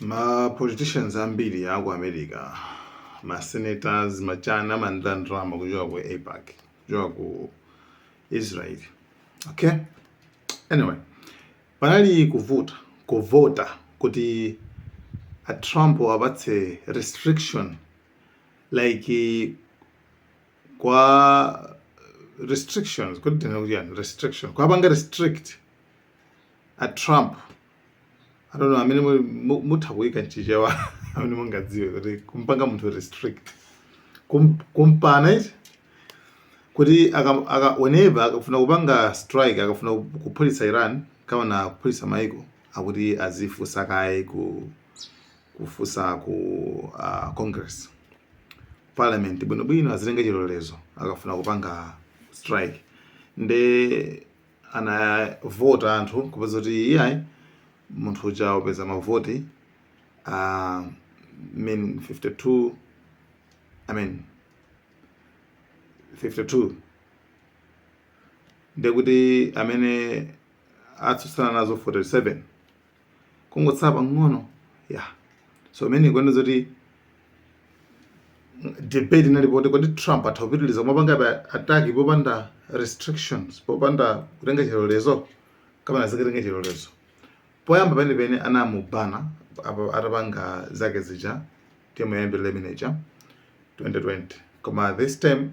ma politicians ambiri a ku america ma senators ma chana amandilandira ndalama kuchoka ku AIPAC kuchoka ku israel okay anyway panali kuvuta kuvota kuti a trump apatse restriction like kwa restrictions kuti tinene kuti chani restriction kwapanga restrict a trump I don't know amene muli- mu- mutha kuyika mchichewa amene mungadziwe kuti kumpanga munthu restrict Kum- kumpanga kuti kuti aka- aka- whenever akafuna kupanga strike akafuna ku- kuphulitsa iran kapena kuphulitsa maiko akuti azifunsa kaye ku kufunsa ku uh, congress parliament bwinobwino azitenge chilolezo akafuna kupanga strike nde anavota anthu kupeza kuti iyayi munthu uja wapeza mavoti uh, I mean 52 I mean 52 ndekuti amene atsutsana nazo 47 kungotsala pang'ono ya so imene ikuonetsa zoti debate inalipo kuti kodi trump atha kupitiriza kumapangabe ataki popanda restrictions popanda kutenga chilolezo kapena azikatenga chilolezo poyamba penepene anamubana apa- atapanga zake zija term yoyambirira imeneja 2020 koma this time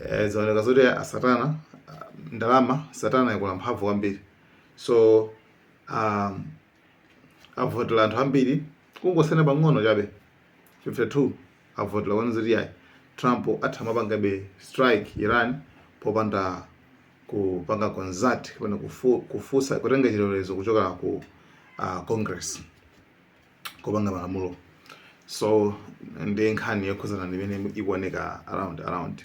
eh, zaoneka zoti asatana ah, ndalama satana yakula mphamvu kwambiri so um, avotera anthu ambiri kungosiyana pang'ono chabe 52 avotera kunena zoti yayi trump atha kumapangabe strike iran popanda kupanga consult kapena kufu- kufunsa kutenga chilolezo kuchokera ku uh, congress kupanga malamulo so ndi nkhani yokhuzana ndi imene ikuoneka around around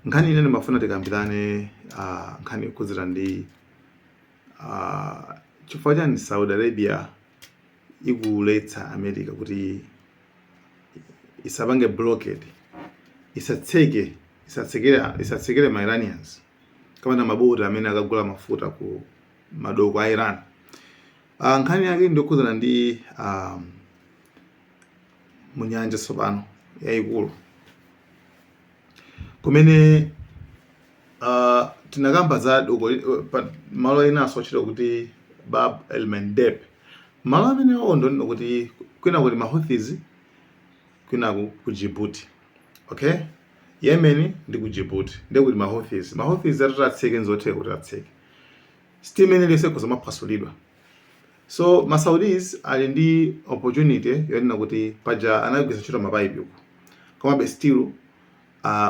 Nkhani ine ndimafuna tikambirane ah, nkhani yokhudzana ndi ah, chifukwa chani Saudi Arabia ikuletsa America kuti isapange blockade isatseke isatsekere isatsekere ma Iranians kapena maboti amene akagula mafuta ku madoko a Iran. Ah, nkhani yake ndiyokhudzana ndi um, munyanja tsopano yayikulu kumene uh, tinakamba za doko malo enanso otchedwa kuti bab el mandeb malo amenewo ndikunena kuti kwina kuli mahouthis kwina ku, ku djibouti okay yemen ndi ku djibouti ndi kuli mahouthis mahouthis atati atseke nzotheka kuti atseke sitima imene iliyonse ikhoza kumaphwasulidwa So ma Saudis ali ndi opportunity yonena kuti paja anagwiritsa ntchito ma pipe uku. Komabe still uh,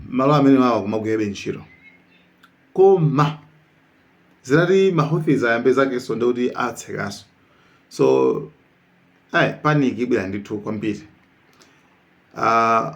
malo amene wawa kumagwirabe ntchito. Koma zitati ma Houthis ayambe zakenso ndi kuti atsekanso. So ayi panic ibweradi ndithu kwambiri. Uh,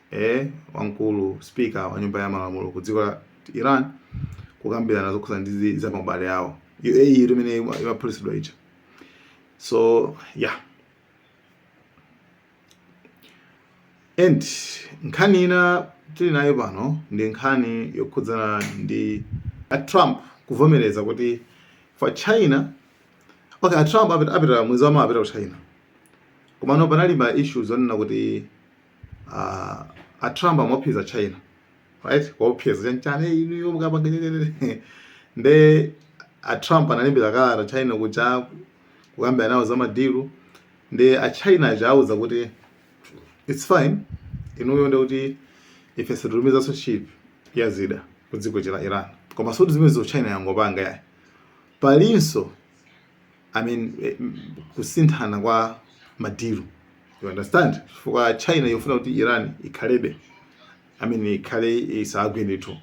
eh, wamkulu speaker wa nyumba ya malamulo ku dziko la Iran kukambirana zokhudza ndi za abale awo UAE imene imaphulitsidwa ija so yeah and nkhani ina tili nayo pano ndi nkhani yokhudzana ndi a Trump kuvomereza kuti kwa China okay a Trump apita mwezi wamawa apita ku China komano panali ma issues onena kuti Ah, a Trump amawopseza China right kuwaopseza chanichani inuyo mukapanga nyenyenene nde a Trump analembera kalata China kuja kukambirana nawo za madilu nde a China aja awauza kuti it's fine inuyo nde kuti ife sititumizanso ship ya zida ku dziko la Iran koma sikuti zimenezo China yangopanga yayi palinso I mean eh, m- kusinthana kwa madiru you understand chifukwa china ikufuna kuti iran ikhalebe i mean ikhale isagwe ndithu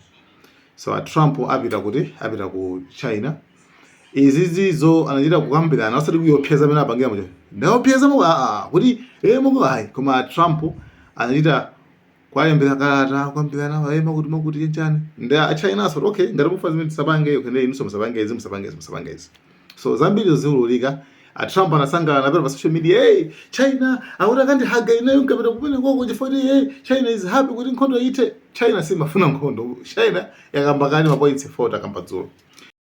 so a trump apita kuti apita ku china izi izizo anachita kukambirana osati kuwopseza mmene apangira muja ndawaopseza muku aa kuti e muku ayi koma a trump anachita kuwalembera kalata kukambirana nawo ayi mwakuti mwakuti chanichani nde achayinanso kuti okay ngati mufuna zimene tisapange kene inunso musapange izi musapange izi musapange izi so zambiri ziululika a Trump anasangalala napita pa social media hey China akuti akandihaga ineyo nkapita kumene koko chifukwa kuti hey China is happy kuti nkhondo ithe China siimafuna nkhondo China yakamba kale mapoints 4 takamba dzulo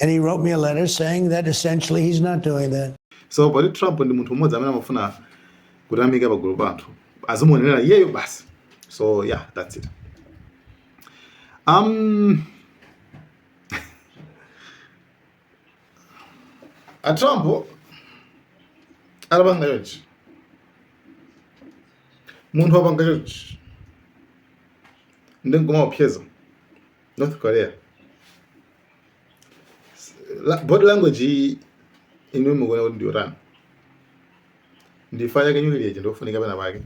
And he wrote me a letter saying that essentially he's not doing that. So poti Trump ndi munthu mmodzi amene amafuna kutamika pagulu pa anthu azimuonera iyeyo basi. So yeah, that's it. Um, a Trump adapanga chonchi munthu wapanga chonchi ndi kumawopseza North Korea body language inu mukuona kuti ndiyotani ndi chifukwa chake nyukiliya ndiyofunika pena pake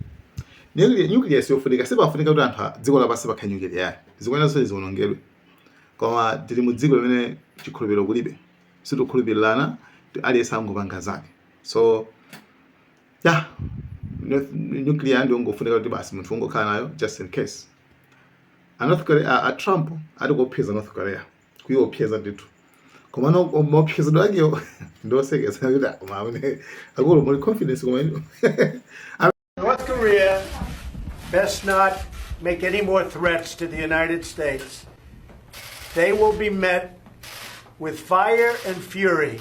nyukiliya siyofunika sipafunika kuti anthu dziko lapansi pakhale nyukiliya yayi zikuyenera zonse ziwonongedwe koma tili mu dziko limene chikhulupiriro kulibe sitikhulupirirana aliyense angopanga zake so ya nuclear ndiyongofunika kuti basi munthu ungokhala nayo just in case a north korea a trump ali kuopseza north korea kuiopseza ndithu koma maopsezedwe akewo ndiosekesa kuti mmene akulu muli confidence koma ino north korea best not make any more threats to the united states they will be met with fire and fury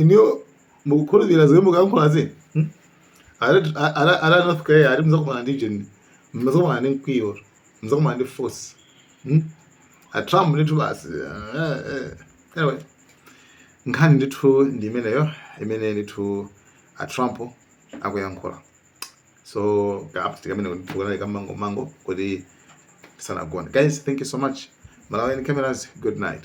inuyo mukukhulupirira zimene mukuyankhulazi hmm? Ara- a- ara- ara north korea ati muzakumana ndi jeni muzakumana ndi mkwiyo muzakumana ndi force hmm? a trump ndithu basi eh, eh. anyway nkhani ndithu ndi imeneyo imene ndithu a trump akuyankhula so kaapti kamene ndithu kanali ka mwangomwango kuti tisanagone guys thank you so much malawian cameras good night